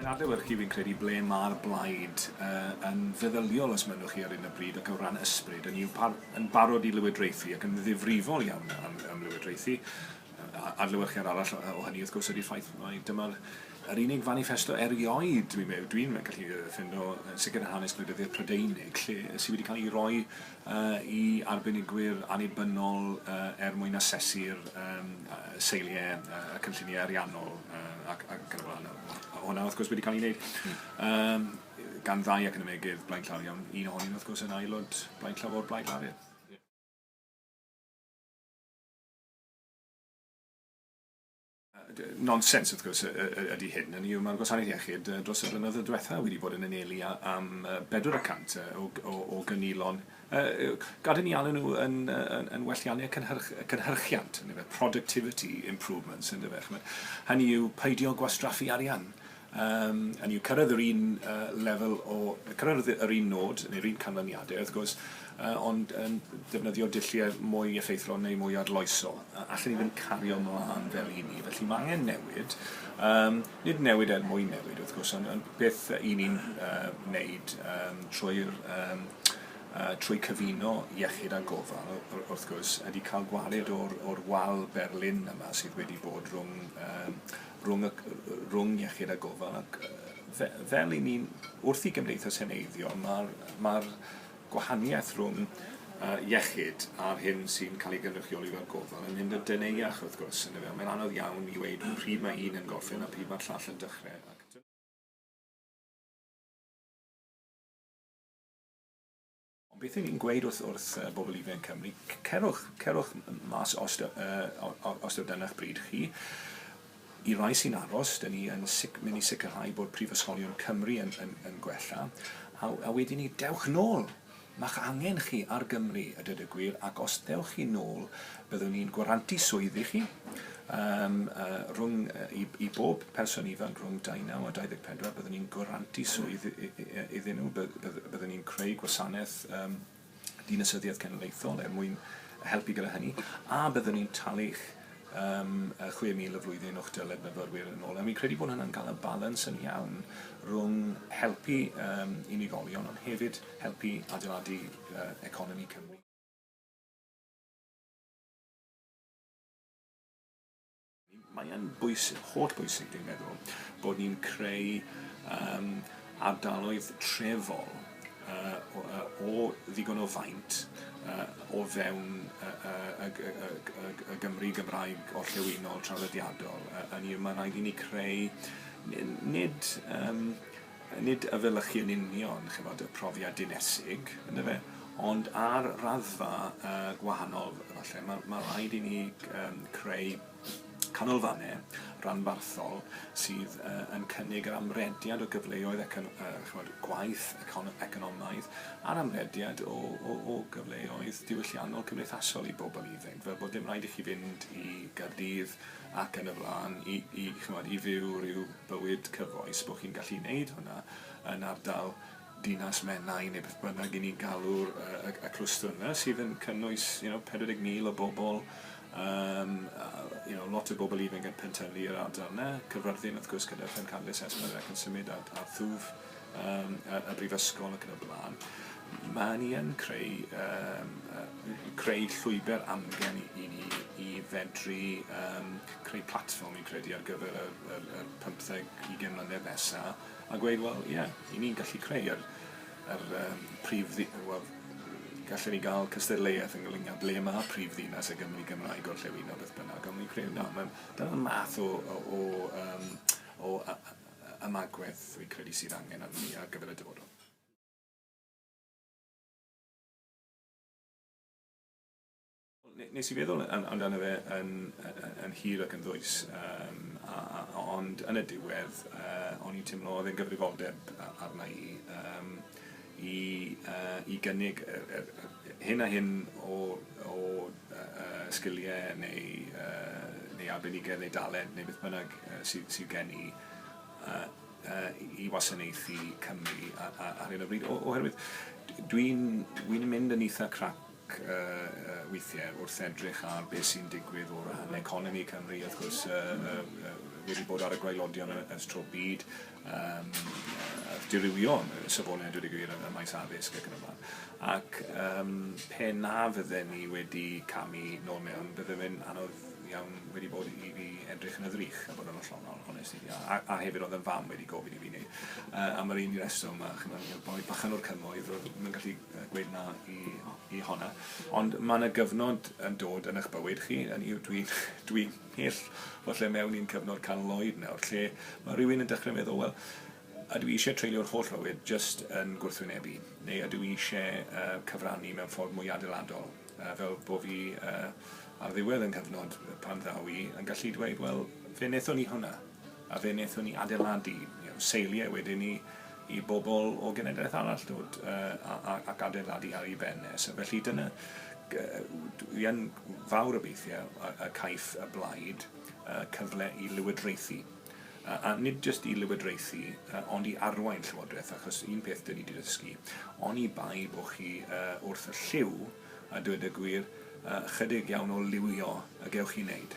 Mae'n adlewyrchu, fi'n credu, ble mae'r blaid uh, yn feddyliol os mynnwch chi ar un o bryd ac o ran ysbryd, yn, i'w yn barod i lywodraethu ac yn ddifrifol iawn am, am lywodraethu. Adlewyrchiad arall o hynny, wrth gwrs, ydy'r ffaith mai dyma'r yr unig faniffesto erioed dwi'n meddwl, dwi'n gallu ffindo, yn sicr yn hanes gwleidyddiaeth Prydeinig, lle sydd wedi cael ei roi uh, i arbenigwyr annibynnol uh, er mwyn asesu'r um, seiliau, uh, y cynlluniau ariannol uh, ac, ac yn y blaen. Hwna, wrth gwrs, wedi cael ei wneud um, gan ddau ac yn ymegydd Blaid Clarion, un ohonyn, wrth gwrs, yn aelod Blaid Llafur, Blaid Lafur. Nonsens, wrth gwrs, ydy hyn, hynny yw, mae'r Gwasanaeth Iechyd dros y blynyddoedd diwethaf wedi bod yn anelu am bedwar y cant o gynilon, gad i ni alw nhw yn welliannau cynhyrchiant, productivity improvements, hynny yw, peidio gwastraffu arian. Yym, hynny yw, cyrraedd yr un lefel o... cyrraedd yr un nôd, neu'r un canlyniadau, wrth gwrs, ond yn defnyddio dulliau mwy effeithlon neu mwy arloesol. Allen ni ddim cario mlaen fel y'n ni. Felly, mae angen newid. Yym, nid newid er mwyn newid, wrth gwrs, ond ond beth y'n ni'n wneud trwy'r yym trwy cyfuno iechyd a gofal, wrth gwrs, ydy cael gwared o'r o'r wal berlin yma sydd wedi bod rhwng yym rhwng y, rhwng iechyd a gofal ac fe, fel i ni'n wrth i gymdeithas heneiddio, mae'r ma gwahaniaeth rhwng uh, iechyd a'r hyn sy'n cael ei gynrychioli fel gofal yn mynd yn deneuach wrth gwrs. Mae'n anodd iawn i weid pryd mae un yn gorffen a pryd mae'r llall yn dechrau. Ac Ond beth 'y ni'n gweud wrth wrth yy bobl ifanc Cymru, c- cerwch cerwch m- mas os dy- yy o- o- os taw dyna'ch bryd chi. I rai sy'n aros, 'dyn ni yn sic- myn' i sicrhau bod prifysgolion Cymru yn yn yn gwella, a w- a wedyn 'ny dewch nôl! Ma'ch angen chi ar Gymru, a dweud y gwir, ac os dewch chi nôl, byddwn ni'n gwarantu swydd i chi, Yym, yy, rhwng, yy, i, i bob person ifanc rhwng 19 a 24, byddwn ni'n gwarantu swydd iddyn nhw, byddwn ni'n creu gwasanaeth um, dinasyddiaeth cenedlaethol er mwyn helpu gyda hynny, a byddwn ni'n talu'ch um, 6,000 y flwyddyn o'ch dyled myfyrwyr yn ôl. A mi'n credu bod hynna'n cael y balans yn iawn rhwng helpu um, unigolion, ond hefyd helpu adeiladu uh, economi Cymru. Mae e'n bwysig, holl bwysig dwi'n meddwl, bod ni'n creu yym ardaloedd trefol yy o yy o ddigon o faint yy o fewn yy yy y G- y G- y G- y Gymru Gymraeg orllewinol traddodiadol yy hynny yw ma' raid i ni creu n- nid yym nid efelychu yn union, ch'mod, y profiad dinesig, yndyfe, ond ar raddfa uh, gwahanol, falle, mae ma rhaid i ni um, creu canolfannau ranbarthol sydd uh, yn cynnig yr amrediad o gyfleoedd econ, uh, chymod, gwaith econ, economaidd a'r amrediad o, o, o gyfleoedd diwylliannol cymdeithasol i bobl ifanc, fel bod dim rhaid i chi fynd i Gardydd ac yn y blaen, i, i, chymod, i fyw rhyw bywyd cyfoes, bod chi'n gallu gwneud hwnna yn ardal Dinas Menai neu beth bynnag i ni'n galw'r y, y, y clwstwr yna sydd yn cynnwys you know, 40,000 o bobl, um, you know, lot o bobl ifanc yn pentylu yr ardal yna, cyfrddin wrth gwrs gyda Pen Candes Esmer ac yn symud ar, ar thwf yym y y brifysgol ac yn y bla'n, ma' hynny yn creu yym yy creu llwybr amgen i i ni i fedru yym creu platfform fi'n credu ar gyfer yr yr yr pymtheg ugen mlynedd nesa a gweud wel ie 'yn ni'n gallu creu yr yr yym prif ddi- wel gallen ni ga'l cystadleuaeth yn ynglŷn â ble ma' prif ddinas y Gymry Gymraeg gorllewinol beth bynnag on' fi'n credu na ma'n dyna'r math o o o yym o a- a- ymagwedd rwy'n credu sydd angen arnon ni ar gyfer y dyfodol. Nes i feddwl amdano fe yn, yn hir ac yn ddwys, um, a, a, ond yn y diwedd uh, o'n i'n teimlo oedd e'n gyfrifoldeb arna i. Um, i i gynnig yr yr yr hyn a hyn o o yy sgilie neu yy neu arbenigedd neu dalent neu beth bynnag yy sy sydd gen i yy yy i wasanaethu Cymru a- a- ar hyn o bryd o- oherwydd d- dwi'n dwi'n mynd yn itha crap ac weithiau wrth edrych ar beth sy'n digwydd o ran economi Cymru, wrth gwrs, wedi bod ar y gwaelodion ers tro byd, um, dirywio'n safonau, dweud y gwir, ym maes addysg ac yn y blaen. Ac um, pe na fydden ni wedi camu nôl mewn, bydde fe'n anodd iawn wedi bod i fi edrych yn y ddrych a bod yn ollonol, honest i, a, a hefyd oedd yn fam wedi gofyn i fi wneud. Uh, am yr un reswm, a chymryd boi bachan o'r cymoedd, oedd yn gallu Dweud na i i honna. Ond mae yna gyfnod yn dod yn eich bywyd chi, hynny yw dwi'n dwi'n mhell o lle mewn i'n cyfnod canol oed nawr lle mae rhywun yn dechrau meddwl, wel, ydw i eisiau treulio'r holl fywyd jyst yn gwrthwynebu, neu ydw i eisiau yy cyfrannu mewn ffordd mwy adeiladol? Fel bo fi ar ddiwedd y cyfnod pan ddaw i yn gallu dweud, wel, fe wnaethon ni hwnna, a fe wnaethon ni adeiladu seiliau wedyn i i bobl o genedlaeth arall ddod ac adeiladu ar ei ben e. So felly dyna, dwi yn fawr obeithiau y caiff y blaid cyfle i lywodraethu. a nid jyst i lywodraethu, ond i arwain llywodraeth, achos un peth dyn ni wedi dysgu, oni bai bod chi wrth y llyw, a dweud y gwir, ychydig iawn o liwio y gewch chi wneud.